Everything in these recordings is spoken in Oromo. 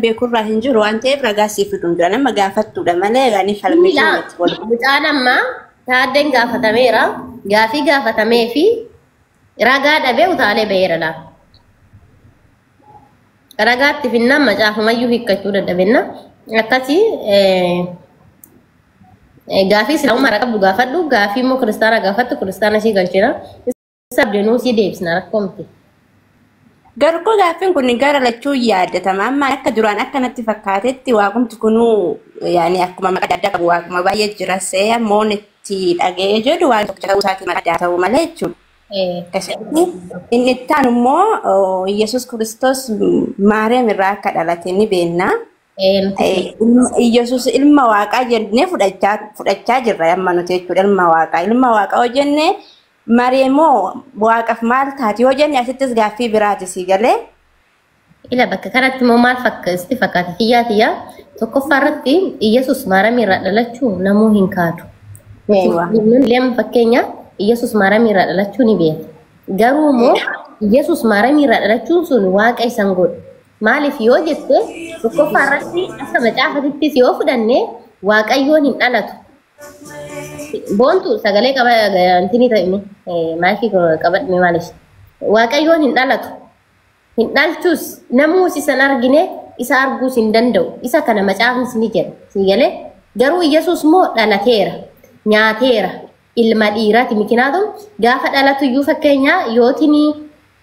beeku irraa hin jiru waan ta'eef ragaa siif fiduu hin jiran amma gaafattuudha malee ani falmii Miila irratti wal mucaan amma taaddeen gaafatameera gaafii gaafatamee fi ragaa dhabee utaalee ba'eera laa ragaatti finnaan macaafumayyuu hiikkachuu dadhabenna akkasii eh, eh, gaafii islaamummaa irraa qabdu gaafadhu gaafii immoo kiristaanaa gaafattu kiristaana ishii galchina Sabde nuu si deebisna rakkoo miti. Garuu gaaffiin kun gara lachuu yaadatama. Amma akka duraan akka natti fakkaatetti waaqumti kunuu yaani akkuma maqaa addaa qabu waaquma baay'ee jira see ammoo itti dhaga'ee jedhu waan tokko ta'uu isaatiin addaa ta'uu malee jechuudha. Eh, Akkasitti inni itti aanu immoo Yesuus Kiristoos Maariyaam irraa akka dhalate ni beekna. Ee nuti Eh, fudhachuu ilma- Iyyasuus ilma waaqaa jennee fudhachaa fudhachaa jirra amma nuti jechuudha ilma waaqaa ilma waaqaa yoo jenne mareemoo waaqaf maal taati yoo jenne asittis gaaffii biraati sii galee ila bakka kanatti immoo maal fakka isti fakkaata kiyyaa tiyyaa tokkoffaa irratti Iyyasuus maaramii irraa dhalachuu namuu hin kaadu. Nuti Eewa. musliimonni lama fakkeenya Iyyasuus maaramii irraa dhalachuu ni beekna. Garuu immoo Iyyasuus maaramii irraa dhalachuun sun waaqa isan godhu. Maaliif yoo jette tokkoffaa irratti akka macaafatittis yoo fudhanne waaqayyoon hin dhalatu. Boontu sagalee qaba intini ta'imi maayikii qabadhime maaliif waaqayyoon hin dhalatu. Hin dhalchus namuus isan argine isa arguus hin danda'u. Isa kana macaafnis ni jedha. Sii galee garuu Yesuus moo dhalateera nyaateera ilma dhiiraati mikinaatu gaafa dhalatu iyyuu fakkeenyaa yootinii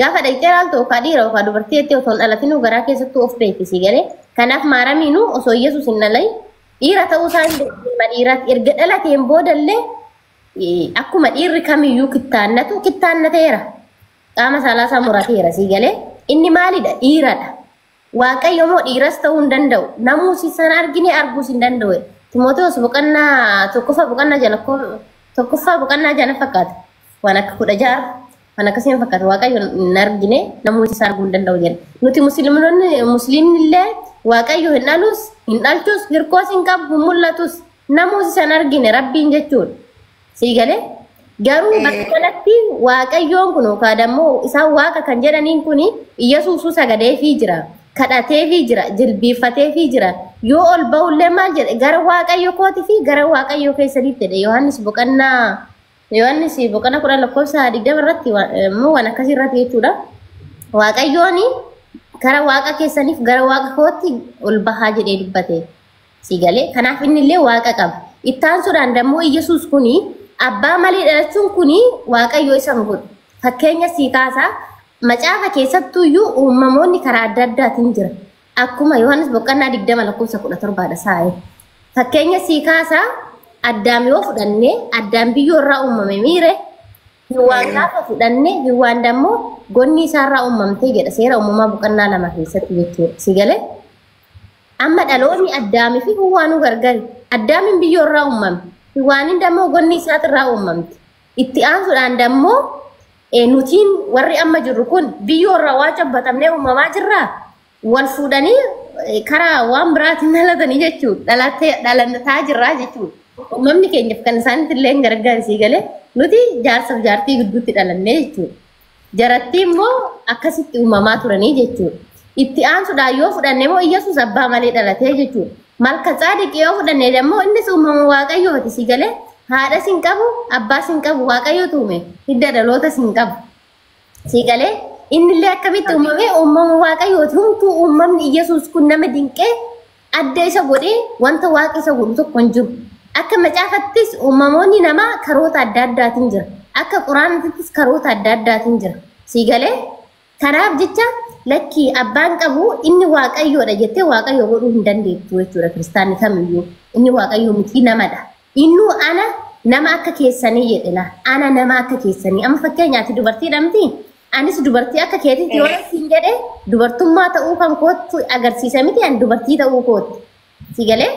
Gaafa dhaqxee ilaaltu okaa dhiira okaa dubartii jettee otoo hin dhalatinuu garaa keessattuu of beekti sii galee. Kanaaf maaramiinuu osoo Yesuus hin dhalin dhiira ta'uu isaa hin beekne ilma dhiiraatti erga dhalateen boodallee eh, akkuma dhiirri kamiyyuu kittaannatu kittaannateera. Qaama saalaa isaa murateera sii galee. Inni maalidha? Dhiiradha. Waaqayyo moo dhiiras ta'uu hin danda'u. Namuu si sana argine arguus hin danda'u. Timoteos boqonnaa tokkoffaa boqonnaa jana tokkoffaa boqonnaa jana fakkaata. Waan akka kudha ja'a waan akkasii hin fakkaata. Waaqayyo hin argine namuu si arguu hin danda'u jenna. Nuti musliimonni musliimni illee Waaqayyo hin dhalus hin dhalchus hirkoos hin qabu hin mul'atus. Namuus isan argine rabbiin jechuudha. Sii galee garuu Eh. bakka kanatti waaqayyoon kun yookaan ammoo isaan waaqa kan jedhaniin kun Iyyasuusuu sagadeefii jira. Kadhateefii jira, jilbiiffateefii jira. Yoo ol ba'ullee maal jedhe gara waaqayyo kooti fi gara waaqayyo keessanitti jedhe Yohaannis boqonnaa Yohaannis boqonnaa kudhan lakkoofsa digdama irratti wa- immoo waan akkasii irratti jechuudha. Waaqayyoon gara waaqa keessaniif gara waaqa kootti ol bahaa jedhee dubbate. Sii galee? Kanaaf inni illee waaqa qaba. Itti aansuudhaan dammoo Iyyasuus kuni abbaa malee dhalachuun kuni waaqayyo isa hin godhu. Fakkeenya sii kaasaa macaafa keessattuu iyyuu uumamoonni karaa adda addaatiin jira. Akkuma Yohaannis boqqonnaa 20 lakkoofsa 17 dha saa'e. Fakkeenya sii kaasaa addaam yoo fudhanne addaam biyyoo irraa uumame miire hiwwaan gaafa fudhanne hiwwaan dammoo gonni isaarraa uumamte jedha seera uumamaa boqonnaa lama keessatti jechuudha. Sii galee? Amma dhaloonni Addaamii fi Hiwwaanuu gargari. Addaamiin biyyoo irraa uumame. Hiwwaaniin dammoo gonni isaati irraa uumamte. Itti aansuudhaan dammoo eh, nutiin warri amma jirru kun biyyoo irraa waa cabbatamnee uumamaa jirraa? Wal fuudhanii eh, karaa waan biraatiin dhalatanii jechuudha. Dhalattee dhalataa jirraa jechuudha. Uumamni keenyaf kan isaanitti illee hin gargaarsi galee nuti jaarsaaf jaartii gidduutti dhalannee jechuudha. Jarattii immoo akkasitti uumamaa turanii jechuudha. Itti aansuudhaan yoo fudhanne immoo Iyyasuus abbaa malee dhalatee jechuudha. Malka tsaadiqi yoo fudhanne immoo innis uumama waaqayyooti si galee haadhas hin qabu abbaas hin qabu waaqayyootu uume hidda dhalootas hin qabu. Si galee innillee akkamitti uumame uumama waaqayyooti humtuu uumamni Iyyasuus kun nama dinqee adda isa godhee wanta waaqi isa godhu tokko hin jiru. Akka macaafattis uumamoonni namaa karoota adda addaatiin jira. Akka quraanattis karoota adda addaatiin jira. Sii galee? Kanaaf jecha lakkii abbaan qabu inni waaqayyoodha jettee waaqayyo godhuu hin dandeettu jechuudha kiristaanni kamiyyuu. Inni waaqayyo miti namadha. Innuu ana nama akka keessanii jedhela. Ana nama akka keessanii. Amma fakkeenyaati dubartii dhamti Anis dubartii akka keetitti yoo siin jedhe dubartummaa ta'uu kan kootti agarsiisa miti an dubartii ta'uu kootti. Si galee?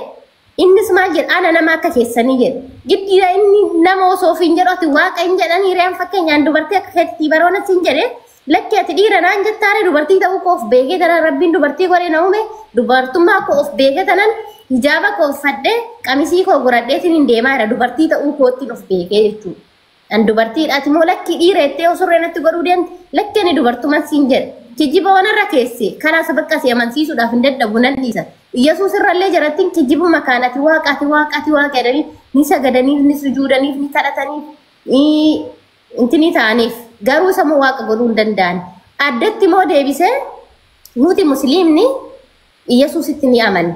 Innis maal jedha ana nama akka keessanii jedha. Giddiidha inni nama osoo ofiin jedhu ati waaqa hin jedhan hiriyaan fakkeenyaan dubartii akka keetitti baroona siin jedhe lakki ati dhiira naan jettaare dubartii ta'uu koo of beekee tanan rabbiin dubartii godhee na uume dubartummaa koo of beekee tanan hijaaba koo uffadhee qamisii koo godhadheetiin hin deemaa jira dubartii ta'uu koottiin of beekee jechuudha. An dubartiidhaati moo lakkii dhiira jettee yoo surree natti godhuu deemte lakki ani dubartuman siin jedhe. Kijiba waan irra keessee karaa sabaqqa si amansiisuudhaaf hin dadhabu nan dhiisa. Iyyasuus irrallee jarattiin kijibuma kaan ati waaqa ati waaqa ati waaqa jedhanii ni sagadaniif ni sujuudaniif ni kadhataniif intinii ta'aniif garuu isa moo waaqa godhuu hin danda'an. Addatti moo deebisee nuti musliimni Iyyasuusitti ni amanna.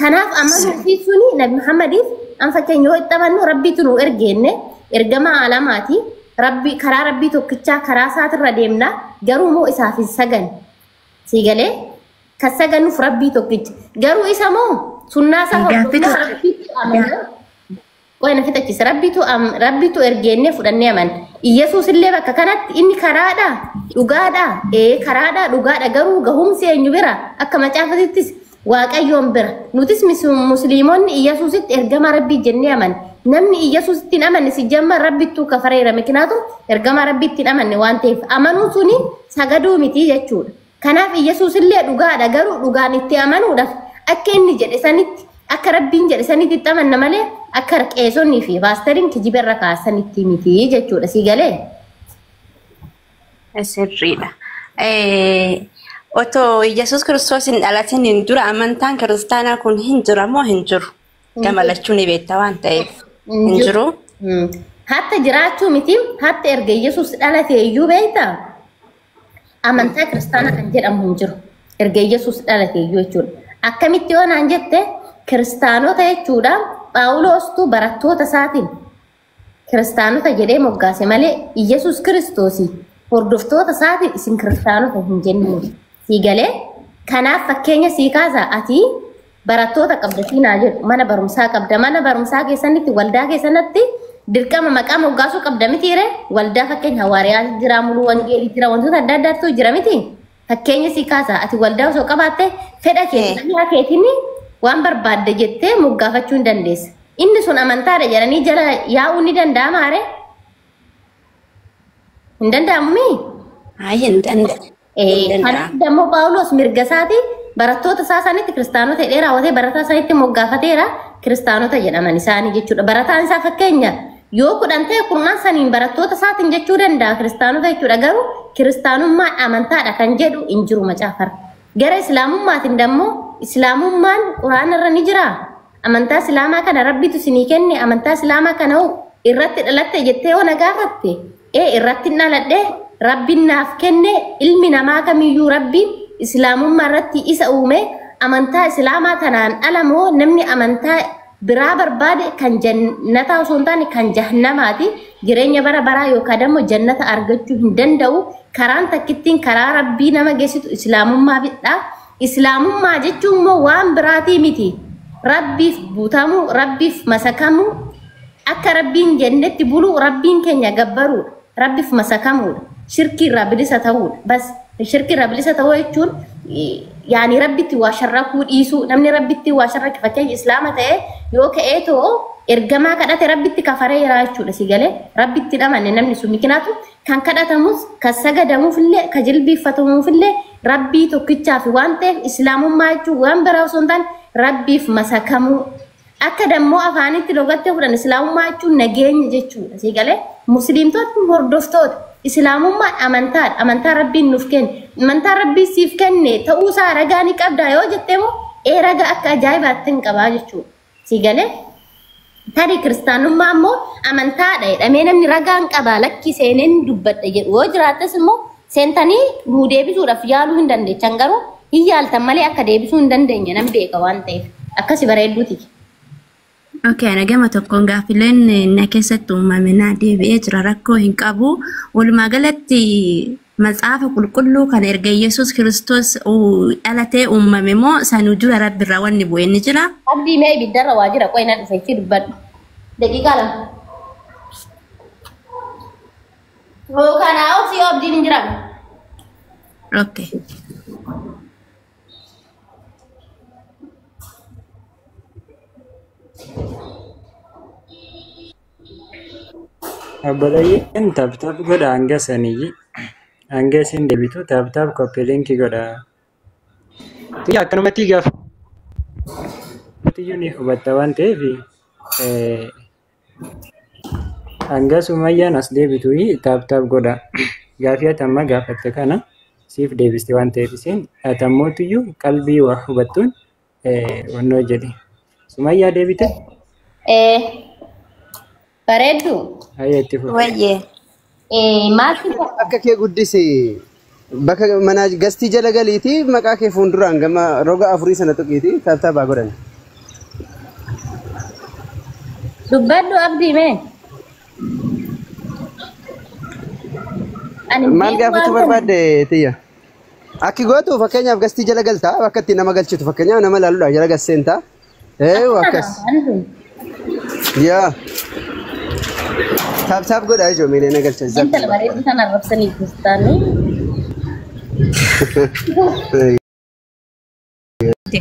Kanaaf amanuu fi suni Nabi Muhammadiif an fakkeenya yoo itti amannu Rabbiitu nu ergeenne ergamaa alamaati. Rabbi karaa Rabbii tokkichaa karaa isaatirra deemna garuu moo isaaf hin sagan. Sii galee kan saganuuf Rabbii tokkicha. Garuu isa moo sunnaa isaa Gaaffitu- hordofnaa Rabbiitti amanna. Qoy na fixachiisa. Rabbitu am- Rabbitu ergeennee fudhannee aman. Iyyasuus illee bakka kanatti inni karaadha, dhugaadha, ee karaadha, dhugaadha garuu gahumsi eenyu bira akka macaafatittis waaqayyoon bira. Nutis mis- musliimonni Iyyasuusitti ergamaa rabbii jennee aman. Namni Iyyasuusitti hin amanne si jamma rabbittuu kafareera mikinaatu ergamaa rabbiitti hin amanne waan ta'eef amanuu suni sagaduu miti jechuudha. Kanaaf Iyyasuus illee dhugaadha garuu dhugaan itti amanuudhaaf akka inni jedhe sanitti akka rabbiin jedhe sanitti itti amanna malee akka qeesonnii fi paastariin kijiba irra kaasanitti miti jechuudha sii galee. Sirriidha. Eh, Otoo Yesuus Kiristoos hin dhalatin hin dura amantaan kiristaanaa kun hin jira moo hin jiru? Gama lachuu ni beekta waan ta'eef. Hin Hin jiru. jiru. Hatta jiraachuu miti hatta erga Iyyasuus dhalatee iyyuu beektaa? amantaa kiristaana kan jedhamu hin jiru. Erga Yesuus dhalate iyyuu jechuudha. Akkamitti yoo naan jette kiristaanota jechuudha Phaawuloostuu barattoota isaatiin kiristaanota jedhee moggaase malee Yesuus kiristoos hordoftoota isaatiin isin kiristaanota hin jennee sii galee kanaaf fakkeenya sii kaasa ati barattoota qabda siin haa jedhu mana barumsaa qabda mana barumsaa keessanitti waldaa keessanatti dirqama maqaa moggaasuu qabda miti ree waldaa fakkeenya hawaariyaa jira muluu wangeelii jira wantoota adda addaatu jira miti fakkeenya sii kaasa ati waldaa osoo qabaatte fedha Eh. keetiin yaa keetiin waan barbaadde jettee moggaafachuu hin dandeessa inni sun amantaadha jedhanii jala yaa'uu ni danda'ama ree hin danda'amu mii Ayi hin danda'amu. Kanaaf immoo Phaawulos mirga isaatii barattoota isaa sanitti kiristaanota jedhee raawwatee barataa sanitti moggaafateera kiristaanota jedhaman isaanii jechuudha. Barataan isaa fakkeenya yoo kudhan ta'e kurnaan saniin barattoota isaatiin jechuu danda'a kiristaanota jechuudha garuu kiristaanummaan amantaadha kan jedhu hin jiru macaafarra. Gara islaamummaatiin dammoo islaamummaan quraanarra ni jiraa? Amantaa Islaamaa kana Rabbitu sinii kenne amantaa Islaamaa kana hoo irratti dhalatte jettee yoo na gaafatte ee irratti hin dhaladhe Rabbiin naaf kenne ilmi namaa kamiyyuu Rabbiin Islaamummaa irratti isa uume amantaa Islaamaa tanaan ala moo namni amantaa biraa barbaade kan jannataa osoo hin taane kan jahannamaati jireenya bara baraa yookaan immoo jannata argachuu hin danda'u karaan takkittiin karaa Rabbii nama geessitu Islaamummaa bidhaa Islaamummaa jechuun immoo waan biraatii miti. Rabbiif butamuu, Rabbiif masakamuu, akka Rabbiin jennetti buluu, Rabbiin keenya gabbaruudha. Rabbiif masakamuudha. Shirkii irraa bilisa ta'uudha. Bas shirkii irraa bilisa ta'uu jechuun yaani Rabbitti waa sharrakuu dhiisuu. Namni Rabbitti waa sharrake fakkeenya Islaama ta'e yoo ka'ee too ergamaa kadhate Rabbitti kafaree jira jechuudha si galee. Rabbitti hin amanne namni sun mikinaatu kan kadhatamus kan sagadamuuf illee kan jilbiiffatamuuf illee Rabbii tokkichaafi waan ta'eef Islaamummaa jechuun waan biraa osoo hin taane Rabbiif masakamuu. Akka dammoo afaanitti logatti yoo fudhan Islaamummaa jechuun nageenya jechuudha. Sii galee Musliimtotni hordoftoota Islaamummaan amantaadha. Amantaa Rabbiin nuuf kenne. Amantaa Rabbiin siif kenne ta'uusaa ragaa ni qabdaa yoo jettemoo ee raga akka ajaa'ibaatti hin qabaa jechuudha. Sii galee? Tarii kiristaanummaa immoo amantaadha jedhamee namni ragaan qabaa lakkii seeneen dubbadha jedhu yoo jiraates immoo seentanii nuu deebisuudhaaf yaaluu hin dandeechan garuu hin yaaltan malee akka deebisuu hin dandeenye nan beeka waan ta'eef akkasi bareedduuti. Okay, ana gama tokkoon gaaffileen na keessatti uumame na deebi'ee jira rakkoo hin qabu. Walumaa galatti Matsaafa qulqulluu kan erga Yesus Kiristoos dhalatee uummame moo sanu dura Rabbi irraa wanni bu'e ni jira? Abdii mee ibiddarra waa jira qoy na dhufe itti dubbadhu. Daqiiqaa lama. Hoo kanaa ol si abdiin hin jiraanne. Okay. Abbalayeen tap tap godha hanga sanii hanga isin deebitu tap tap copy link godha. Tiyya akkanumatti gaafa tiyyu ni hubatta waan ta'eef eh, hanga sumayyaan as deebitu tap tap godha. Gaafii ati amma gaafatte kana siif deebiste waan ta'eef isin ati ammoo tiyyu qalbii waa hubattuun Wannoo jedhi. Sumayyaa deebite? Eh, bareedu. Hayyee itti fufi. Wayyee. Eh, maati Akka kee guddisi. Bakka manaa gastii jala galiiti maqaa kee fuulduraan gama roga afurii sana tuqiiti taataabaa godhan. dubbadhu abdii mee. Ani Maal biirumaan gaafachuu kana- barbaadde tiyya? Akki gootu fakkeenyaaf gastii jala galta bakka itti nama galchitu fakkeenyaaf nama ilaaluudhaaf jala gas seenta. Eeyu akkas. Yaa. Taap taap godhaa ijoo miilee na galcha. Zap. Intala bareedduu sana arrabsanii jirtaanii.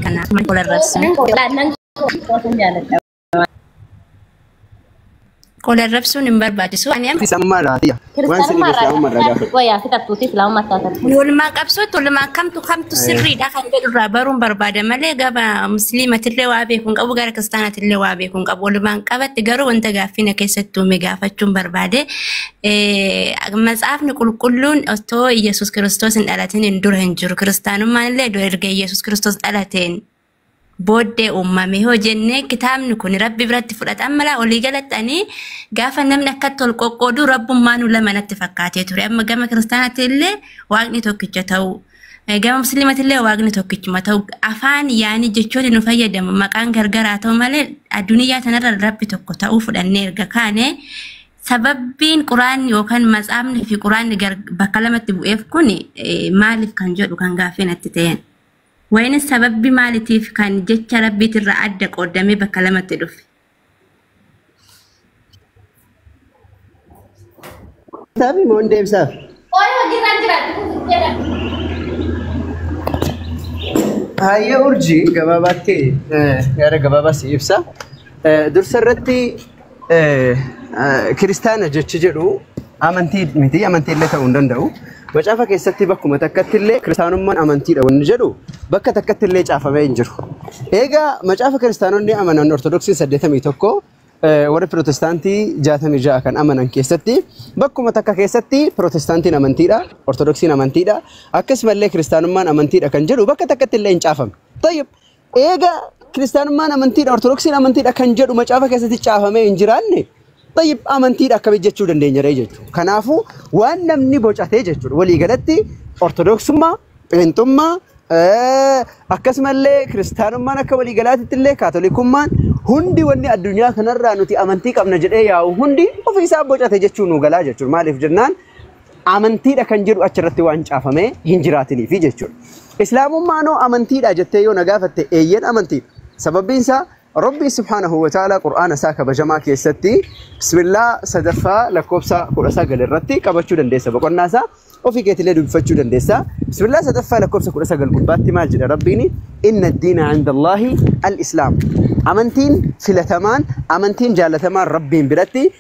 Kana mana wal arrabsan. Laannan koo kootan jaaladha. Qola rabsuun hin barbaachisu. Ani amma Islaamummaa irraa tiyya. Waan sirrii Kiristaanummaa irraa Islaamummaa irraa gaafadhu. Wayaa fixattuuti Islaamummaa taatatu. Walmaa qabsoo tolmaa kamtu kamtu sirriidha kan jedhu irraa baruun barbaada malee gaba musliimatillee waa beeku hin qabu gara kiristaanatillee waa beeku hin qabu walumaan qabatti garuu wanta gaaffii na keessatti uume gaafachuun barbaade Eh, matsaafni qulqulluun otoo Iyyasuus Kiristoos hin dhalatin hin dura hin jiru kiristaanummaan illee erga Iyyasuus Kiristoos dhalateen booddee uumame yoo jennee kitaabni kun rabbi biratti fudhatan mala olii galatti ani gaafa namni akkatti ol qoqqoodu rabbummaan lama natti fakkaatee ture amma gama kiristaanaatti illee waaqni tokkicha ta'uu eh, gama musliimatti illee waaqni tokkichuma ta'uu afaan yaanii jechoonni nu fayyadamu maqaan gargaraa ta'u malee addunyaa tanarra rabbi tokko ta'uu fudhannee erga kaane sababbiin quraanni yookaan matsaafni fi quraanni gar- bakka lamatti bu'eef kun eh, maaliif kan jedhu kan gaaffii natti ta'een. Wayne sababbi maalitiif kan jecha Rabbiitirraa adda qooddamee bakka lamatti dhufe? Deebisaafi moo hin deebisaafi? Qoy hojiirra hin jiraatu kun guddee dhabdu. Haayya urjii gabaabaatti eh, yaada gabaabaa si ibsa. Eh, Dursa irratti Eh, eh, kiristaana jechi jedhu amantii miti amantii illee ta'uu hin danda'u macaafa keessatti bakkuma takkatti illee kiristaanummaan amantiidha wanni jedhu bakka takkatti illee caafamee hin jiru eegaa macaafa kiristaanonni amanan ortodoksii 81 eh, warri pirootestaantii 66 kan amanan keessatti bakkuma takka keessatti pirootestaantiin amantiidha ortodoksiin amantiidha akkasumallee kiristaanummaan amantiidha kan jedhu bakka takkatti illee hin caafame Tayyib. Eega kiristaanummaan amantiidha, ortodoksiin amantiidha kan jedhu macaafa keessatti caafamee hin jiraanne tayyib amantiidha akkamitti jechuu dandeenya ree jechuudha. Kanaafuu waan namni bocatee jechuudha. Walii galatti ortodoksummaa, pheenxummaa, eh, akkasumallee kiristaanummaan akka walii galaatitti illee kaatolikummaan hundi wanni addunyaa kanarraa nuti amantii qabna jedhee yaa'u hundi ofiisaa bocate jechuu nu galaa jechuudha. Maaliif jennaan amantiidha kan jedhu achirratti waan caafamee hin jiraatiniifi jechuudha. Islaamummaanoo amantiidha jettee yoo na gaafatte eeyyen amantiidha. Sababbiin isaa Rabbi subhaanahu wa ta'ala Qur'aana isaa kabajamaa keessatti bismillaa sadaffaa lakkoofsa kudha sagal irratti qabachuu dandeessa boqonnaa isaa ofii keetilee dubbifachuu dandeessa. Bismillaa sadaffaa lakkoofsa kudha sagal gubbaatti maal jedha Rabbiin inna diina indallaahi al-islaam. Amantiin filatamaan amantiin jaalatamaan Rabbiin biratti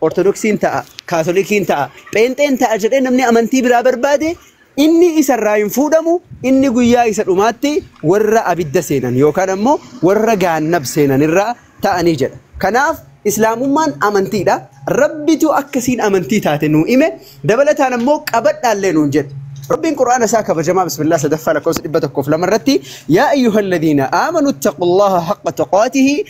Ortodoksiin ta'a, Kaatolikiin ta'a, Pheenxeen ta'a jedhee namni amantii biraa barbaade inni isa irraa hin fuudhamu, inni guyyaa isa dhumaatti warra abidda seenan yookaan ammoo warra gaannab seenan irraa ta'anii jedha. Kanaaf Islaamummaan amantiidha. Rabbitu akka isiin amantii taate nuu hime, dabalataan ammoo qabadhaallee nuun jedhe. Rabbiin Qur'aana isaa kabajamaa Bismillah sadaffaa lakkoofsa 102 irratti yaa ayyuhalladiina aamanu ittaqullaha haqqa tuqaatihi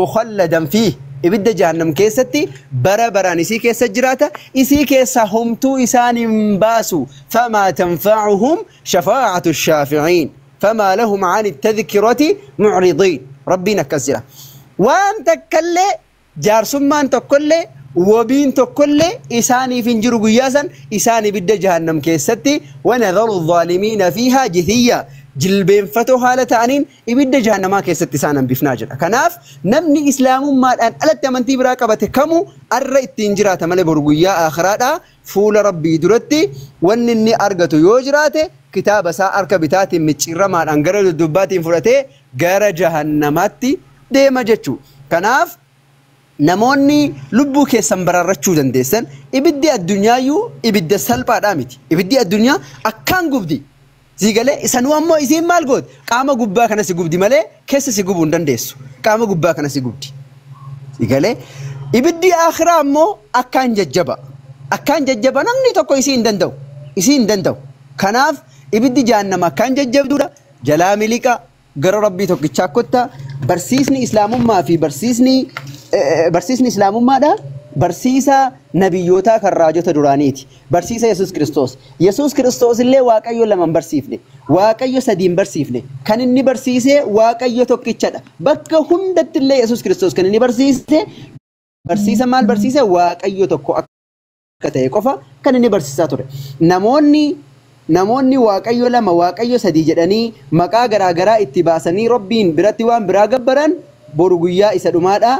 mukhalladan fiih ibidda jahannam keessatti bara baraan isii keessa jiraata isii keessaa homtuu isaan hin baasu famaa tanfa'uhum shafaa'atu shaafi'iin famaa lahum ani tadhkirati mu'ridiin rabbiin akkas jira waan takkallee jaarsummaan tokkollee wabiin tokkollee isaaniif hin jiru guyyaa san isaan ibidda jahannam keessatti wanadharu zaalimiina fiihaa jithiyyaa jilbeenfatoo haala ta'aniin ibidda jahannamaa keessatti isaan hambifnaa jedha. Kanaaf namni Islaamummaadhaan alatti amantii biraa qabate kamu arra ittiin jiraata malee boru guyyaa aakhiraadhaa fuula Rabbii duratti wanni inni argatu yoo jiraate kitaaba isaa harka bitaatiin micciirramaadhaan gara duddubbaatiin fudhatee gara jahannamaatti deema jechuu. Kanaaf Namoonni lubbuu keessan baraarrachuu dandeessan, ibiddi addunyaayyuu ibidda salphaadhaa miti. Ibiddi addunyaa akkaan gubdi. Sii galee? Isanuu ammoo isiin maal gooti? Qaama gubbaa kana si gubdi malee keessa si gubuu hin dandeessu. Qaama gubbaa kana si gubdi. Sii galee? Ibiddi aakhiraa ammoo akkaan jajjaba. Akkaan jajjaba namni tokko isii hin danda'u. Isii hin danda'u. Kanaaf ibiddi jahannama akkaan jajjabduudha. Jalaa miliqaa. gara Rabbii tokkichaa kotta barsiisni islaamummaa fi barsiisni eh, barsiisni islaamummaadha barsiisa nabiyyootaa kan raajota duraaniiti barsiisa Yesuus Kiristoos Yesuus Kiristoos illee Waaqayyo lama hin barsiifne Waaqayyo sadii hin barsiifne kan inni barsiise Waaqayyo tokkichadha bakka hundatti illee Yesuus Kiristoos kan inni barsiise barsiisa maal barsiise Waaqayyo tokko akka akka ta'e qofa kan inni barsiisaa ture. Namoonni namoonni waaqayyo lama waaqayyo sadii jedhanii maqaa garaa garaa itti baasanii rabbiin biratti waan biraa gabbaran boru guyyaa isa dhumaadha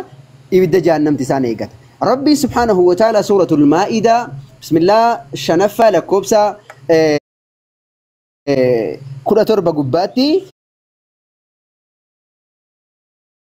ibidda jahannamti isaan eegata. Rabbiin subhaanahu wa ta'ala suuratul maa'idaa bismillah shanaffaa lakkoobsa eh, eh, kudha torba gubbaatti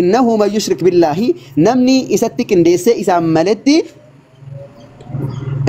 innahu man yushrik billaahi namni isatti qindeessee isaan maletti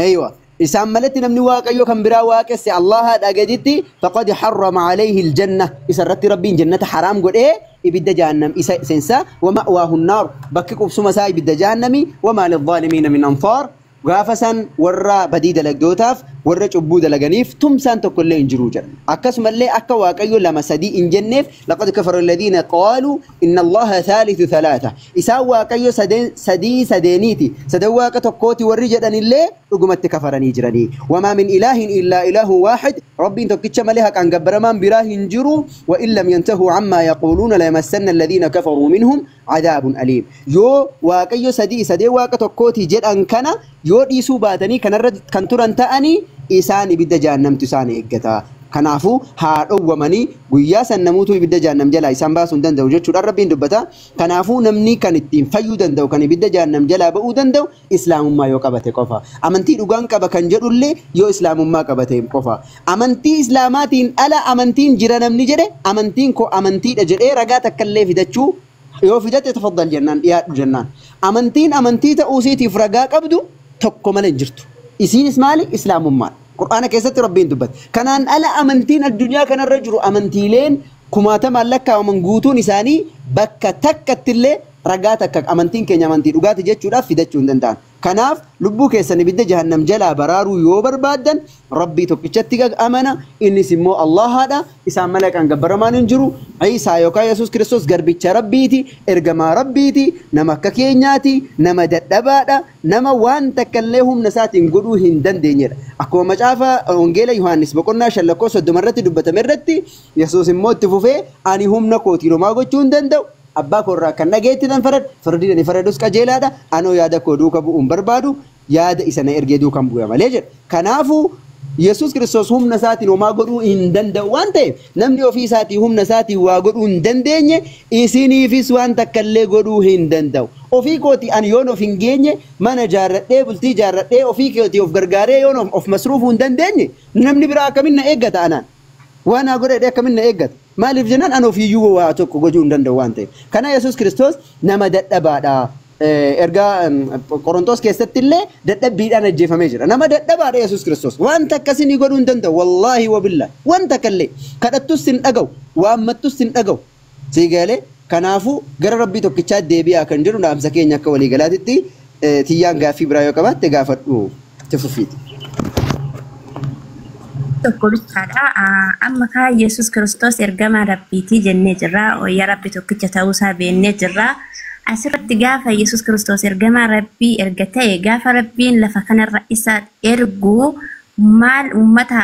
eywa isaan maletti namni waaqayyo kan biraa waaqesse allaha dhagaditti faqad harrama alayhi aljanna isa irratti rabbiin jannata haraam godhee ibidda jahannam isa seensa wama'waahu nnaar bakki qubsuma isaa ibidda jahannami wamaa lilzaalimiina min ansaar Gaafa san warra badii dalagdootaaf, warra cubbuu dalaganiif, tumsaan tokkollee hin jiru jedha. Akkasumallee akka Waaqayyo lama sadii hin jenneef, laqad kafara alladiina qaaluu inna Allaaha thaalithu thalaatha. Isaan Waaqayyo sadeen sadii sadeeniiti, sadan Waaqa tokkooti warri jedhanillee dhugumatti kafaranii jirani. Wamaa min ilaahin illaa ilaahun waahid, Rabbiin tokkicha malee haqaan gabbaramaan biraa hin jiru. Wa in lam yantahuu ammaa yaquuluuna layamassanna alladiina kafaruu minhum. Cadaabun aliim. Yoo Waaqayyo sadii sadee Waaqa tokkooti jedhan kana yoo dhiisuu baatanii kanarra kan turan ta'anii isaan ibidda jahannamtu isaan eeggata. Kanaafuu haa dhowwamanii guyyaa san namuutuu ibidda jahannam jalaa isaan baasuu hin danda'u jechuudhaan Rabbiin dubbata. Kanaafuu namni kan ittiin fayyuu danda'u kan ibidda jahannam jalaa ba'uu danda'u Islaamummaa yoo qabate qofa. Amantii dhugaan qaba kan jedhullee yoo Islaamummaa qabateen qofa. Amantii Islaamaatiin ala amantiin jira namni jedhe amantiin koo amantiidha jedhee ragaa takkallee fidachuu yoo fidate tafaddal jennaan dhiyaadhu jennaan. Amantiin amantii ta'uu isiitiif ragaa qabdu tokko malee hin jirtu. Isiinis maali? Islaamummaadha. Qur'aana keessatti Rabbiin dubbate. Kanaan ala amantiin addunyaa kanarra jiru amantiileen kumaatamaan lakkaawaman guutuun isaanii bakka takkattillee ragaa takka amantiin keenya amantii dhugaati jechuudhaaf fidachuu hin danda'an. Kanaaf lubbuu keessan ibidda jahannam jalaa baraaruu yoo barbaaddan Rabbii tokkichatti gag amana innis immoo Allahaadha isaan malee kan gabbaramaan hin jiru Iisaa yookaan Yesuus Kiristoos garbicha Rabbiiti ergamaa Rabbiiti nama akka keenyaati nama dadhabaadha nama waan takka illee humna isaatiin godhuu hin dandeenyedha akkuma macaafa wangeela Yohaannis boqonnaa shan lakkoo soddoma irratti dubbatame irratti Yesuus immoo itti fufee ani humna kootiin homaa gochuu hin danda'u Abbaa koo irraa akkan dhaga'etti nan faradha, firdii ani faradus qajeelaa dha, anoo yaada koo duuka bu'uu hin barbaadu, yaada isa na ergee duukan bu'a malee jedha. Kanaafuu, Yesuus Kiristoos humna isaatiin homaa godhuu hin danda'u waan ta'eef, namni ofii isaatii humna isaatiin waa godhuu hin dandeenye, isiniifis waan takka illee godhuu hin danda'u. Ofii kootii ani yoon of hin geenye, mana ijaarradhee, bultii ijaarradhee, ofii kootii of gargaaree yoon of masruufuu hin dandeenye, namni biraa akkamiin na eeggata anaan? Waan naa godhe jedhee akkamin na eeggata? Maaliif jennaan an ofiiyyuu waa tokko gochuu hin danda'u waan ta'eef. Kana Yesuus Kiristoos nama dadhabaadha. Ergaa Qorontos keessatti illee dadhabbiidhaan ajjeefamee jira. Nama dadhabaadha Yesuus Kiristoos. Waan takka isinii godhuu hin danda'u. Wallaahi wabillaah. Waan takka illee. Kadhattus sin dhaga'u. Waammattus sin dhaga'u. Sii galee kanaafuu gara rabbii tokkichaatti deebi'aa kan jedhu dhaamsa keenya akka walii galaatitti eh, tiyyaan gaaffii biraa yoo qabaatte gaafadhu itti fufiiti. tokko bichaadha. Ah, Amma kaa Yesus Kiristoos ergamaa Rabbiitii jennee jirra. Wayyaa Rabbi tokkicha ta'uusaa beennee jirra. Asirratti gaafa Yesus Kiristoos ergamaa Rabbii erga ta'e gaafa Rabbiin lafa kanarra isa ergu maal uummata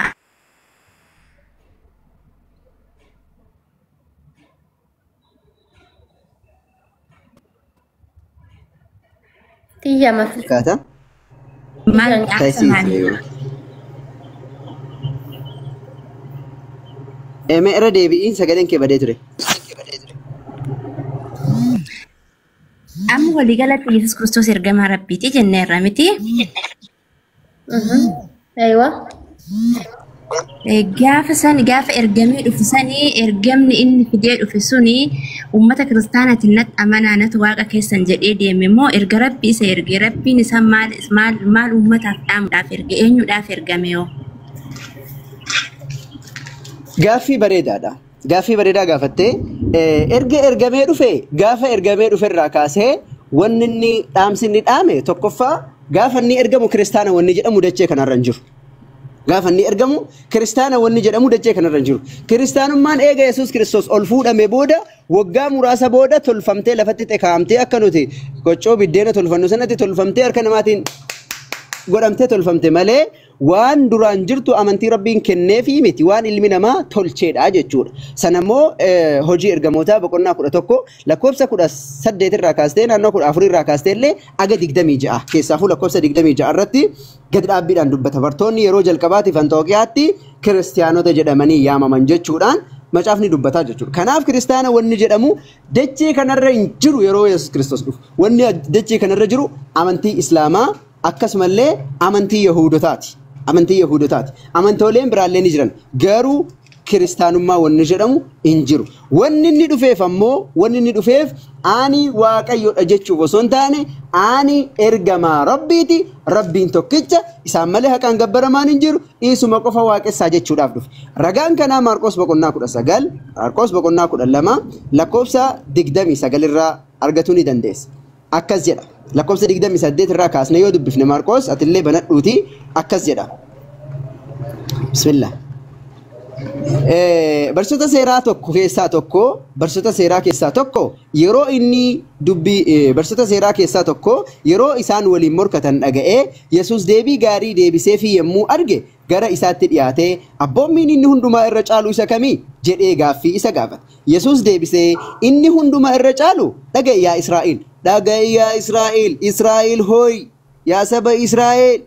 Tiyya mafi. Kaata. Maal akka Taisii. maal? Eme irra deebi'iin sagaleen kee badee ture. Amma waliigalatti Yesuus Kiristoos ergamaa Rabbiiti jenneerra miti. Aywa. Gaafa san gaafa ergamee dhufu sanii ergamni inni fidee dhufe suni uummata kiristaanaatiin natti amanaa natti waaqa keessan jedhee deeme moo erga rabbi isa erge rabbiin isa maal maal maal uummataaf dhaamuudhaaf erge eenyuudhaaf ergame yoo Gaaffii bareedaadha. Gaaffii bareedaa gaafatte. Erga ergamee dhufe gaafa ergamee dhufe irraa kaasee wanni inni dhaamsi inni dhaame tokkoffaa gaafa inni ergamu kiristaana wanni jedhamu dachee kanarra hin jiru. Gaafa inni ergamu kiristaana wanni jedhamu dachee kanarra hin jiru. Kiristaanummaan eega Yesuus Kiristoos ol fuudhame booda waggaa muraasa booda tolfamtee lafatti xekaamtee akka nuti qoccoo biddeena tolfannu sanatti tolfamtee harka namaatiin godhamtee tolfamte malee waan duraan jirtu amantii Rabbiin kenneefii miti, waan ilmi namaa tolcheedha jechuudha. Sana immoo eh, hojii ergamootaa boqonnaa 11 lakkoofsa 18 irraa kaastee naannoo 14 irraa kaastee illee aga 26 keessaafuu lakkoofsa 26 irratti gad dhaabbiidhaan dubbata. Bartoonni yeroo jalqabaatiif Anxooqiyaatti kiristiyaanota jedhamanii yaamaman jechuudhaan macaafni dubbataa jechuudha. Kanaaf kiristaana wanni jedhamu dachee kanarra hin jiru yeroo Yesuus Kiristoos dhufu. Wanni dachee kanarra jiru amantii Islaamaa akkasumallee amantii Yahuudotaati. Amantii Yahuudotaati. Amantooleen biraallee ni jiran. Garuu kiristaanummaa wanni jedhamu hin jiru. Wanni inni dhufeef ammoo wanni inni dhufeef ani waaqayyodha jechuuf osoo hin taane ani ergamaa rabbiiti rabbiin tokkicha isaan malee haqaan gabbaramaan hin jiru isuma qofa waaqessaa jechuudhaaf dhufe. Ragaan kanaa Maarqos boqonnaa kudha sagal Maarqos boqonnaa kudha lama lakkoofsa digdamii sagal irraa argatuu ni dandeessa. akkas jedha. Lakkoofsa 28 irraa kaasnee yoo dubbifne Maarqoos atillee banadhuuti akkas jedha. Bismillah. Eh, Barsiisota seeraa tokko keessaa tokko barsiisota seeraa keessaa tokko yeroo inni dubbii eh, barsiisota seeraa keessaa tokko yeroo isaan waliin morkatan dhaga'ee Yesuus deebii gaarii deebiseefii yommuu arge gara isaatti dhiyaatee, Abboommiin inni hundumaa irra caalu isa kami? jedhee gaaffii isa gaafate. Yesuus deebisee, Inni hundumaa irra caalu, Dhaga'i yaa Israa'el! Dhaga'i yaa Israa'el! Israa'el hoo'i! Yaa saba Israa'el!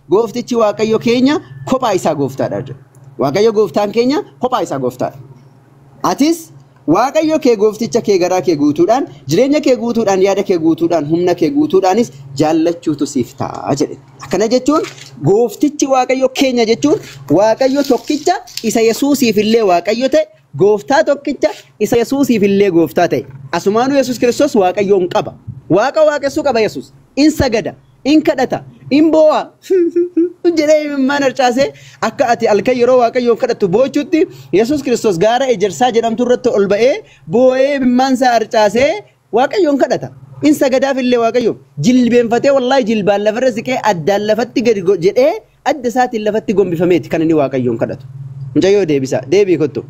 Gooftichi Waaqayyo keenya kophaa isaa gooftaadha jedhe. Waaqayyo gooftaan keenya kophaa isaa gooftaadha. Atis Waaqayyo kee goofticha kee garaa kee guutuudhaan, jireenya kee guutuudhaan, yaada kee guutuudhaan, humna kee guutuudhaanis jaallachuutu siif ta'a jedhe. Akkana jechuun gooftichi Waaqayyo keenya jechuun Waaqayyo tokkicha isa Yesuusiif illee Waaqayyo ta'e, gooftaa tokkicha isa Yesuusiif illee gooftaa ta'e. Asumaanuu Yesuus Kiristoos Waaqayyoon qaba. Waaqa waaqessuu qaba Yesuus. In sagada. In kadhata, in boo'a jedhee imimmaan harcaasee akka ati halkan yeroo Waaqayyoon kadhattu boochutti Yesuus Kiristoos gaara ejersaa jedhamtu irratti ol ba'ee boo'ee imimmaan isaa harcaasee Waaqayyoon kadhata. In sagadaaf illee Waaqayyoof jilbeenfatee wallaahi jilbaan lafarra siqee addaan lafatti gadi go- jedhee Adda isaatiin lafatti gombifameeti kan inni Waaqayyoon kadhatu. Mucayyoo deebisaa, deebii kottu.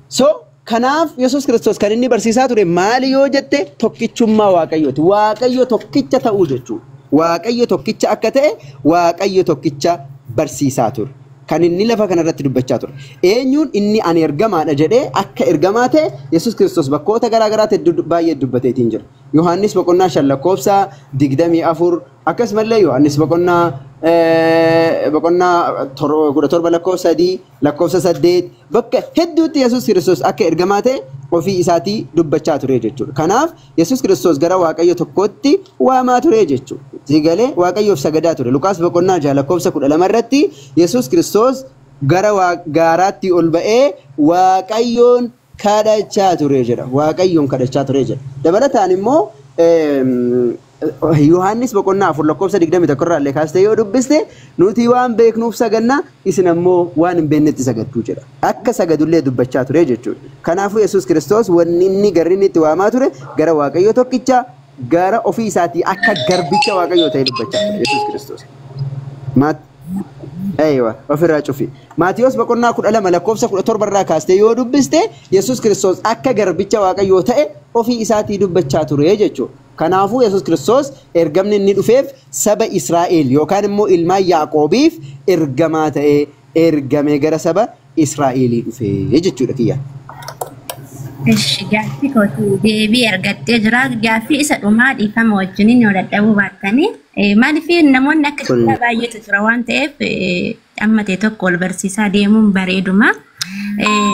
So kanaaf Yesuus Kiristoos kan inni barsiisaa ture maali yoo jette tokkichummaa Waaqayyooti. Waaqayyo tokkicha ta'uu jechuudha. Waaqayyo tokkicha akka ta'e Waaqayyo tokkicha barsiisaa ture. Kan inni lafa kanarratti dubbachaa ture. Eenyuun inni ani ergamaadha jedhee akka ergamaa ta'e Yesuus Kiristoos bakkoota garaa garaatti hedduu baay'ee dubbateetiin jira. Yohaannis boqonnaa shan lakkoofsa digdamii afur Akkasumallee Yohaannis boqonnaa eh, boqonnaa tor- kudha torba lakkoofsa sadii lakkoofsa saddeet bakka hedduutti Yesuus Kiristoos akka ergamaa ta'e ofii isaatii dubbachaa ture jechuudha. Kanaaf Yesuus Kiristoos gara Waaqayyo tokkootti waamaa ture jechuudha. Itti galee Waaqayyoof sagadaa ture. Luqaas boqonnaa jaha lakkoofsa kudha lama irratti Yesuus Kiristoos gara waa- gaaraatti ol ba'ee Waaqayyoon kadhachaa ture jedha. Waaqayyoon kadhachaa ture jedha. Dabalataan immoo Yohaannis boqonnaa 4 lakkoofsa 21 irraa illee kaastee yoo dubbiste nuti waan beeknuuf saganna isin ammoo waan hin beeknetti sagaddu jedha. Akka sagadullee dubbachaa ture jechuudha. Kanaafuu Yesuus Kiristoos wanni inni garri inni itti waamaa ture gara Waaqayyoo tokkicha gara ofii isaatii akka garbicha Waaqayyoo ta'ee dubbachaa ture Yesuus Kiristoos. Maat- Eeywa, ofirraa cufi. Maatiyos boqonnaa 12 lakkoofsa 17 irraa kaastee yoo dubbiste Yesuus Kiristoos akka garbicha Waaqayyoo ta'e ofii isaatii dubbachaa ture jechuudha. Kanaafuu Yesuus Kiristoos ergamni inni dhufeef saba Israa'el yookaan immoo ilmaan Yaaqoobiif ergamaa ta'ee ergame gara saba Israa'eelii dhufe jechuudha kiyya. Eshi gaaffii kootu deebii argattee jira. Gaaffii isa dhumaa dhiifama wajjiniin yoo dadhabuu baattanii eh, maaliif namoonni akka Kun kiyyaa baay'eetu jira waan ta'eef eh, amma ta'e tokko wal barsiisaa deemuun bareeduma. Eh,